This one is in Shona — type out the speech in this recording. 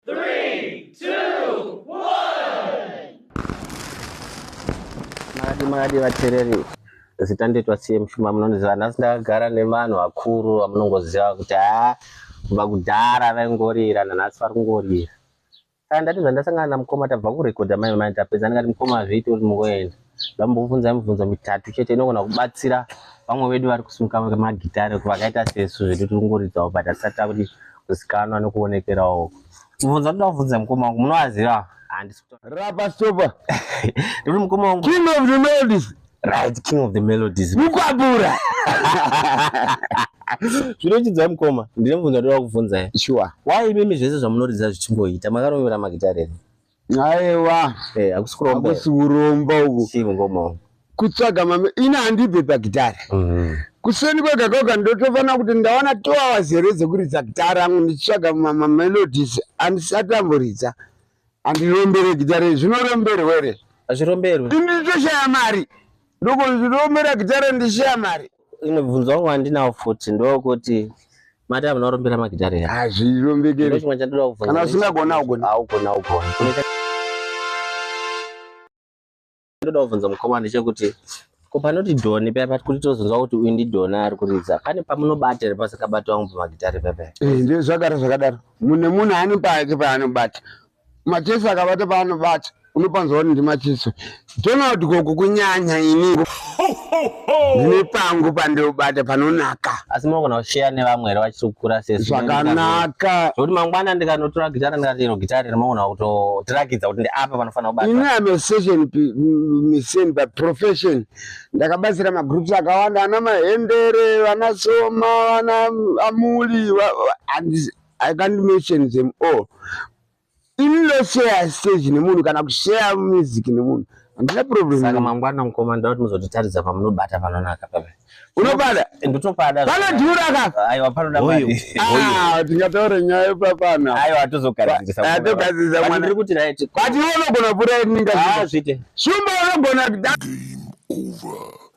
Three, two, one. Makadi makadi vatereri zita ndoitwa CM Shuma munondiziva nhasi ndakagara nevanhu vakuru vamunongoziva kuti haa kubva kudhara vaingorira nanhasi vari kungorira saka ndati zvandasangana namukoma tabva kurekodha mai mai tapedza ndikati mukoma hazviiti uri mungoenda ndambobvunza mibvunzo mitatu chete inogona kubatsira vamwe vedu vari kusunga magitare vakaita sesu zvedu tiri kungoridzawo but asati takuti kuzikanwa nekuonekerawo mubvunzo ndoda kubvunza mukoma wangu munovaziva rapa stopa ndikuti mukoma wangu king of the melodies right king of the melodies mukwabura zvinochidzai mukoma ndine mubvunzo ndoda kubvunzai sure why imimi zvese zvamunoridza zvichingoita makarovera magitare here aiwa eh, hakusi kuromba uku kutsvaga mame ini handibve pagitara mhm. kuseni kwega kwega ndotofanira kuti ndawana two hours here dzekuridza gitara angu ndichitsvaga mamelodies andisati amboridza andirombere gitara zvinoromberwere hazviromberwe nditoshaya mari Ndugu ndinombera gitare ndishiya mari. Inobvunzo wangu andinawo futi ndokuti mati amuna kurombera magitare here? Hazvirombekeri. Ndiro chimwe chandoda kubvunza. Kana usingagona ugona. Haugona ugona. Ndoda kubvunza mukoma ndechekuti ko panoti doni paya pati kuti tozonzwa kuti uyu ndidoni ari kuridza pane pamunobata here pasingabati wangu pamagitare paya paya? Eh, ndezvagara zvakadaro. Mune munhu ane pake paanobata. Macheso akabata paanobata unopanzwa kuti ndimacheso. Donald gogo kunyanya ini. Ndine pangu pandobata panonaka. Asi munogona kusheya nevamwe here vachikura sesu. Zvakanaka. Zvekuti mangwana ndikanotora gitara ndikati iro gitara iri munogona kutotirakidza kuti ndiapa panofanira kubata. Ini am a session musician by profession. Ndakabatsira magroups akawanda ana mahendere, vana soma, vana amuli. I can't mention them all. Inno share stage nemunhu kana kushare music nemunhu. Handina problem. Saka mangwana mkoma ndoda kuti muzototaridza pamunobata panonaka pame. Unobada? Ndotopada. Pana dhura ka? Aiwa panoda mari. Ah, tingataure nyaya papana. Aiwa tozogadzirisa. Ah, togadzirisa mwana. Ndiri kuti right. But iwe unogona pura yedu ninga. Ah, zvite. Shumba unogona. Game over.